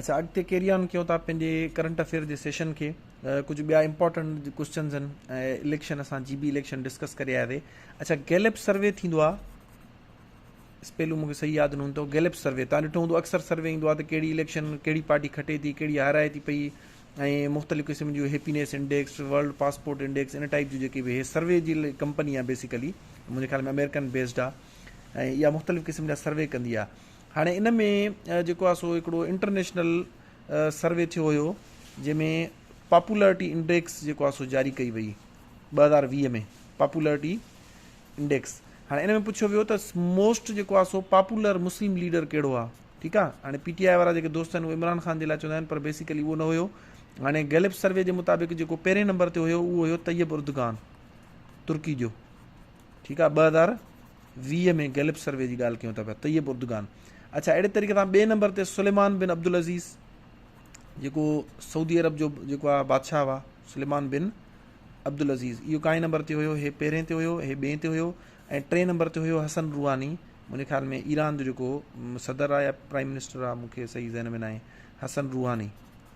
اچا اڳتي carry on ڪيون ٿا پنهنجي ڪرنٽ افيئر جي سيشن کي ڪجهه ٻيا امپورٽنٽ ڪوشچنز آهن ۽ اليڪشن اسان جي بي اليڪشن ڊسڪس ڪري آياسي اچا گيلپ سروي ٿيندو آهي پهلو مونکي صحيح ياد نه هوندو گيلپ سروي تان ڏٺو هوندو اڪثر سروي ايندو آهي ته ڪهڙي اليڪشن ڪهڙي پارٽي کٽي ٿي ڪهڙي هارائي ٿي پئي ۽ مختلف قسم جون happiness index world passport index ان ٽائپ جون جيڪي به سروي جي ڪمپني آهي بيسيڪلي منهنجي خيال ۾ امريڪن بيسڊ آهي ۽ اها مختلف قسم جا سروي ڪندي آهي هاڻي ان ۾ جيڪو آهي سو هڪڙو انٽرنيشنل سروي ٿيو هيو جنهن ۾ پاپولرٽي انڊيڪس جيڪو آهي سو جاري ڪئي وئي ٻه هزار ويهه ۾ پاپولرٽي انڊيڪس هاڻي ان ۾ پڇيو ويو ته موسٽ جيڪو آهي سو پاپولر مسلم ليڊر ڪهڙو آهي ٺيڪ آهي هاڻي پي ٽي آء وارا جيڪي دوست آهن اهي عمران خان جي لاء چوندا آهن پر بيسيڪلي اهو نه هيو هاڻي گيلپ سروي جي مطابق جيڪو پهرين نمبر تي هيو اهو هيو طيب اردگان ترڪي جو ٺيڪ آ ٻه هزار ويهه ۾ گيلپ سروي جي ڳالهه ڪيون ٿا پيا طيب اردگان اچھا اهڙي طريقي سان ٻئي نمبر تي سليمان بن عبدالعزيز جيڪو سعودي عرب جو جيڪو آ بادشاهه هئا سليمان بن عبدالعزيز اهو کائي نمبر تي هيو هي پهرين تي هيو هي ٻئي تي هيو ۽ ٽئين نمبر تي هيو حسن روحاني منهنجي خيال ۾ ايران جو جيڪو صدر آ يا پرائم منسٽر آ مونکي صحيح ذهن ۾ ناهي حسن روحاني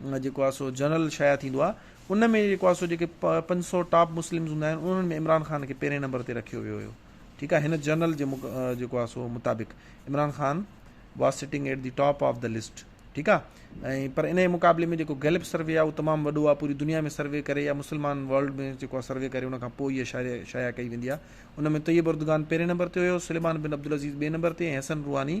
جيڪو آهي سو جنرل شايع ٿيندو آهي ان ۾ جيڪو آهي سو جيڪي پنج سؤ ٽاپ مسلمز هوندا آهن انهن ۾ عمران خان کي پهرين نمبر تي رکيو ويو هيو ٺيڪ آهي هن جنرل جي جيڪو آهي سو مطابق Imran Khan was sitting at the top of the list ٺيڪ آهي ۽ پر ان مقابلي ۾ جيڪو گيلپ سروي آهي اهو تمام وڏو آهي پوري دنيا ۾ سروي ڪري يا مسلمان ورلڊ ۾ جيڪو آهي سروي ڪري ان کان پوء هيء شايع شايع ڪئي ويندي آهي ان ۾ طيب اردگان پهرين نمبر تي هيو سليمان بن عبدالعزيز ٻئي نمبر تي ۽ حسن روحاني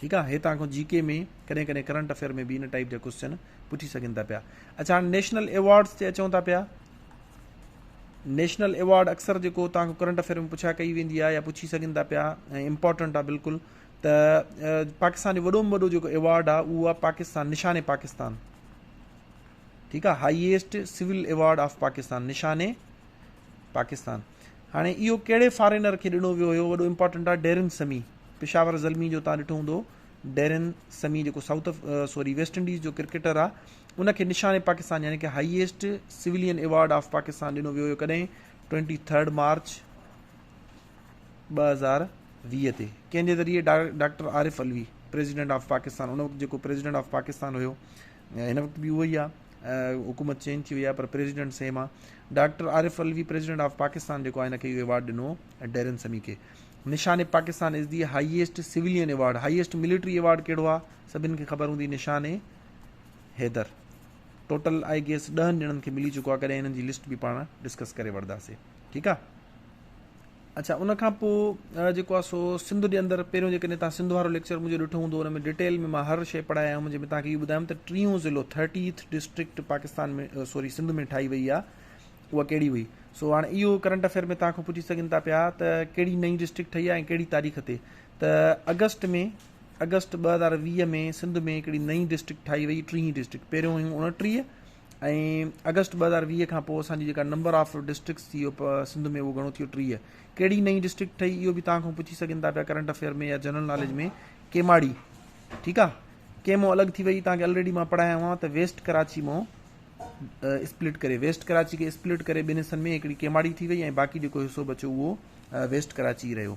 ٺيڪ آ هي توهان جي ڪي ۾ ڪڏهن ڪڏهن ڪرنٽ افيئر ۾ به ان ٽائپ جا ڪوشچن پڇي سگهن ٿا پيا اچھا هاڻي نيشنل ايوارڊس تي اچون ٿا پيا نيشنل ايوارڊ اڪثر جيڪو توهان کرنٽ افيئر ۾ پڇا ڪئي ويندي آ يا پڇي سگهن ٿا پيا ۽ امپورٽنٽ آ بلڪل ته پاڪستان جو وڏو ۾ وڏو جيڪو ايوارڊ آ اهو آ پاڪستان نشان پاڪستان ٺيڪ آ highest civil award of Pakistan Nishan Pakistan هاڻي اهو ڪهڙي فارينر کي ڏنو ويو هيو وڏو امپارٽنٽ آهي ڊيرن سمي پشاور زلمي جو تان ڏٺو هوندو ڊيرن سمي جيڪو سائوٿ سوري ويسٽ انڊيز جو ڪرڪيٽر آ ان کي نشان پاڪستان يعني ڪي highest civilian award of Pakistan ڏنو ويو هيو ڪڏهن 23 مارچ 2020 تي ڪنهن جي ذريعي doctor Arif Alvi president of Pakistan ان وقت جيڪو پريزيڊنٽ آف پاڪستان هيو هن وقت به اهو ئي آهي. حڪومت چينج ٿي وئي آهي پر پريزيڊنٽ سيم آهي. Doctor Arif Alvi president of Pakistan جيڪو آهي هن کي اهو ايوارڊ ڏنو هو ۽ ڊيرن سمي کي. Nishan Pakistan is the highest civilian award highest military award ڪهڙو آهي سڀن کي خبر هوندي Nishan Haider total I guess ڏهن ڄڻن کي ملي چڪو آهي ڪڏهن هنن جي لسٽ به پاڻ ڊسڪس ڪري وٺنداسي ٺيڪ آهي. اڇا ان کان پوء جيڪو آ سو سنڌ جي اندر پهريون جيڪڏهن توهان سنڌ وارو ليڪچر منهنجو ڏٺو هوندو ان ۾ ڊٽيل ۾ مان هر شئي پڙهايا آهيون جنهن ۾ توهان کي اهو ٻڌايم ته ٽيون ضلعو thirtieth district Pakistan ۾ sorry Sindh ۾ ٺاهي وئي آ اها ڪهڙي هئي سو هاڻي اهو ڪرنٽ افيئر ۾ توهان کان پڇي سگهن ٿا پيا ته ڪهڙي نئين ڊسٽرڪٽ ٺهي آ ۽ ڪهڙي تاريخ تي ته اگسٽ ۾ اگسٽ ٻه هزار ويهه ۾ سنڌ ۾ هڪڙي نئين ڊسٽرڪٽ ٺاهي وئي ٽيهين ڊسٽرڪٽ پهريون هيون اڻٽيهه ۽ آگسٽ ٻه هزار ويهه کان پوء اسان جي جيڪا نمبر آف ڊسٽرڪٽس ٿي اهو سنڌ ۾ اهو گهڻو ٿيو ٽيهه ڪهڙي نئين ڊسٽرڪٽ ٺهي اهو به توهان کان پڇي سگهن ٿا پيا ڪرنٽ افيئر ۾ يا جنرل ناليج ۾ ڪيماڙي ٺيڪ آ ڪيمو الڳ ٿي وئي توهان کي الريڊي مان پڙهايا هئا ته ويسٽ ڪراچي مون اسپلٽ ڪري ويسٽ ڪراچي کي اسپلٽ ڪري ٻن حصن ۾ هڪڙي ڪيماڙي ٿي وئي ۽ باقي جيڪو حصو بچو اهو ويسٽ ڪراچي رهيو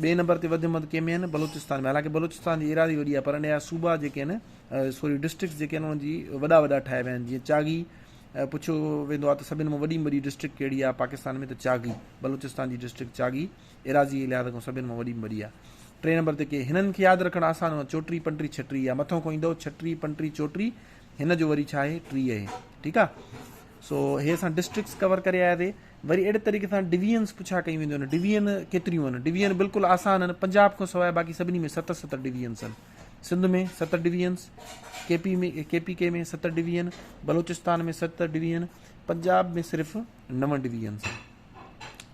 ٻئي نمبر تي وڌ مد ڪيمي آهن بلوچستان ۾ حالانڪ بلوچستان جي ايراضي وڏي آهي پر انهيا صوبا جيڪي آهن سوري ڊسٽرڪٽس جيڪي آهن انهن جي وڏا وڏا ٺاهيا ويا آهن جيئن چاغي پڇيو ويندو آهي ته سڀن مان وڏي ۾ وڏي ڊسٽرڪٽ ڪهڙي آهي پاڪستان ۾ ته چاغي بلوچستان جي ڊسٽرڪٽ چاغي ايراضي جي لحاظ کان سڀن مان وڏي ۾ وڏي آهي ٽئين نمبر تي ڪي هنن کي ياد رکڻ آسان هو چوٽري پنٽري ڇٽري يا مٿو کان ايندو ڇٽري پنٽري چوٽري هن جو وري ڇا آهي ٽري آهي ٺيڪ آهي سو هي اسان ڊسٽرڪٽس ڪور ڪري آياسي وري اهڙي طريقي سان ڊويزنس پڇا ڪيون وينديون آهن ڊويزن ڪيتريون آهن ڊويزن بلڪل آسان آهن پنجاب کان سواء باقي سڀني ۾ ست ست ڊويزنس آهن سنڌ ۾ ست divisions K P ۾ K P K ۾ ست ڊويزن بلوچستان ۾ ست ڊويزن پنجاب ۾ صرف نو ڊويزنس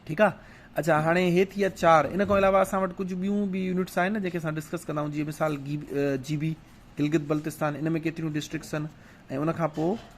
ٺيڪ آهي اچھا هاڻي هي ٿي ويا چار ان کان علاوه اسان وٽ ڪجهه ٻيون به يونٽس آهن جن کي اسان ڊسڪس ڪندا آهيون جيئن مثال جي بي گلگت بلتستان ان ۾ ڪيتريون ڊسٽرڪس آهن ۽ ان کان پوء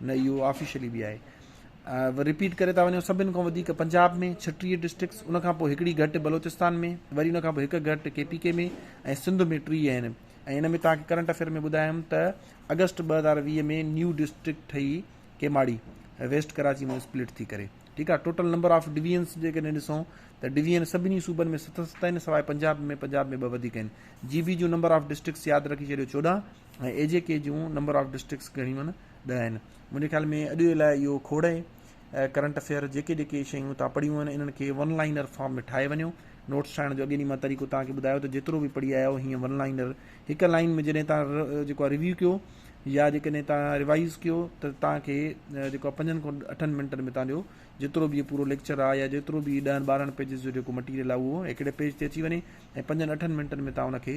نه اهو آفيشلي به آهي. رپيٽ ڪري ٿا وڃون سڀن کان وڌيڪ پنجاب ۾ ڇٽيهه ڊسٽرڪٽس ان کان پوء هڪڙي گهٽ بلوچستان ۾ وري ان کان پوء هڪ گهٽ ڪي پي ڪي ۾ ۽ سنڌ ۾ ٽي آهن ۽ ان ۾ توهان کي ڪرنٽ افيئر ۾ ٻڌايم ته اگسٽ ٻه هزار ويهه ۾ نيو ڊسٽرڪٽ ٺهي ڪيماڙي ويسٽ ڪراچي ۾ اسپلٽ ٿي ڪري ٺيڪ آهي ٽوٽل نمبر آف ڊويزنس جيڪڏهن ڏسون ته ڊويزن سڀني صوبن ۾ ست ست آهن سواء پنجاب ۾ پنجاب ۾ ٻه وڌيڪ آهن جي بي جون نمبر آف ڊسٽرڪٽس ياد رکي ڇڏيو چوڏهن ۽ اي جي ڪي جون نمبر آف ڊسٽرڪٽس گهڻيون آهن ڏهه آهن منهنجي خيال ۾ اڄ جي لاء اهو کوڙ اهي ڪرنٽ افيئر جيڪي جيڪي شيون تان پڙهيون آهن انهن کي ون لائنر فارم ۾ ٺاهي وڃو نوٽس ٺاهڻ جو اڳي ڏينهن مان طريقو تان کي ٻڌايو ته جيترو به پڙهي آيا آهيو هيئن ون لائنر هڪ لائن ۾ جڏهن تان جيڪو ريويو ڪيو يا جيڪڏهن تان ريوائز ڪيو ته تان کي جيڪو آهي پنجن کان اٺن منٽن ۾ تان جو جيترو به پورو ليڪچر آهي يا جيترو به ڏهن ٻارهن پيجز جو جيڪو مٽيريل آهي اهو هڪڙي پيج تي اچي وڃي ۽ پنجن اٺن منٽن ۾ تان ان کي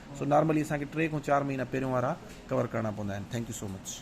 سو نارملي اسان کي ٽي کان چار مهينا پهريون وارا ڪور ڪرڻا پوندا آهن ٿينڪ يو سو مچ.